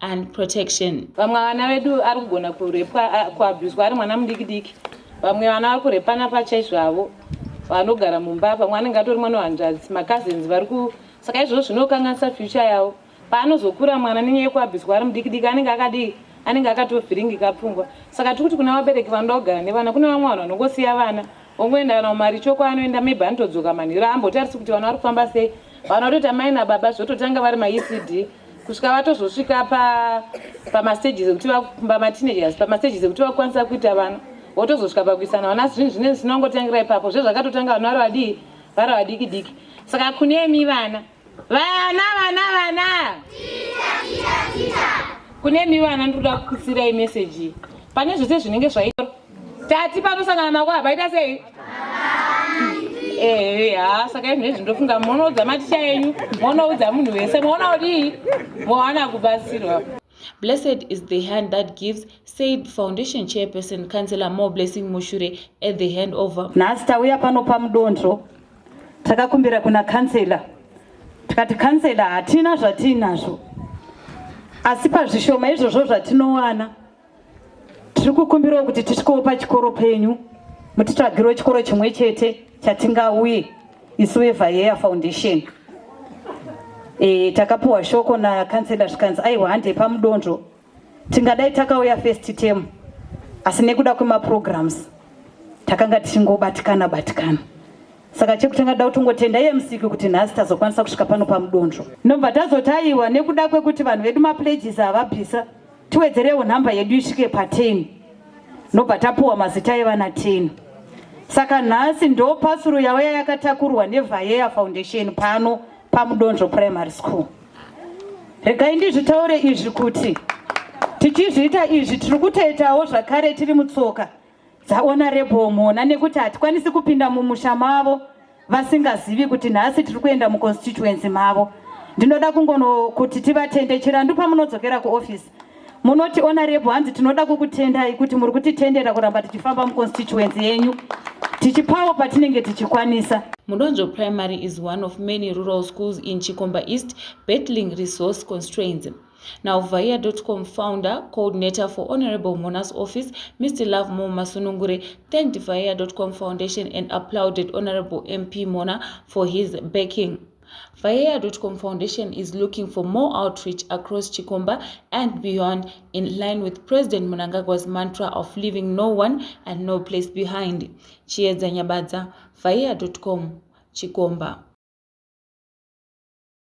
and protection vamwe vana vedu ari kugona kurepwa kuabhuswa ari mwana mudiki diki vamwe vana vari kurepana pachaizvo avo vanogara mumba pamwe anenge atori mwana wehanzvadzi macousins vari ku saka izvozvo zvinokanganisa future yavo paanozokura mwana nenyaya yekuabhuswa ari mudiki diki anenge akadii anenge akatovhiringika pfungwa saka tiri kuti kuna vabereki vanoda kugara nevana kune vamwe vanhu vanongosiya vana Ongoenda kana kumaricho kwaanoenda maybe anotodzoka manhero aambotarisi kuti vana vari kufamba sei vana vatoti amai nababa zvototanga vari maecd kusvika vatozosvika pamastages ekuti pamateenagers pamastages ekuti vakukwanisa kuita vana votozosvika pakuisana vana zvinhu zvinei zvinongotangira ipapo zvezvakatotanga vana vari vadii vari vadiki diki saka kunemi vana Vana vana vana. Kune mi vana ndikuda kukusirai message. Pane zvese zvinenge zvaitwa. Tati panosangana nako hapaita sei? ehe ha saka izvi nezvi ndofunga monoudza maticha enyu monoudza munhu wese moona kudii mowana kubatsirwa Blessed is the hand that gives, said foundation chairperson Councillor More Blessing Mushure at the handover. Nhasi tauya pano pamudondro takakumbira kuna kansela tikati kansela hatina zvatiinazvo asi pazvishoma izvozvo zvatinowana tiri kukumbirawo kuti tisvikewo pachikoro penyu mutitsvagirewo chikoro chimwe chete chatingauye isu vevayeya foundation e, takapiwa shoko nakansela zvikanzi aiwa handei pamudonzvo Tingadai takauya first term asi nekuda kwemaprograms takanga tichingobatikana batikana saka chekutanga da kutongotenda iye musiki kuti nhasi tazokwanisa kusvika pano pamudonzvo ndobva tazotayiwa nekuda kwekuti vanhu vedu mapledges avabvisa tiwedzerewo nhamba yedu isvike pa10 ndobva tapuwa mazita evana 10 saka nhasi ndo pasuru yauya yakatakurwa nevhayeya foundation pano pamudonzvo primary school regai ndizvitaure izvi kuti tichizviita izvi tiri kutoitawo zvakare tiri mutsoka dzaona rebhomona nekuti hatikwanisi kupinda mumusha mavo vasingazivi kuti nhasi tiri kuenda muconstituency mavo ndinoda kungono kuti tivatende chirandu pamunodzokera kuofisi Munoti honorable hanzi tinoda kukutendai kuti muri kutitendera kuramba tichifamba muconstituency yenyu tichipawo patinenge tichikwanisa. Mudonzvo Primary is one of many rural schools in Chikomba East battling resource constraints. Now, Vaya.com founder, coordinator for Honorable Mona's office, Mr. Love Mo Masunungure, thanked Vaya.com Foundation and applauded Honorable MP Mona for his backing. Vayeya.com Foundation is looking for more outreach across Chikomba and beyond in line with President Munangagwa's mantra of leaving no one and no place behind. Chiedza Nyabadza, Vayeya.com, Chikomba.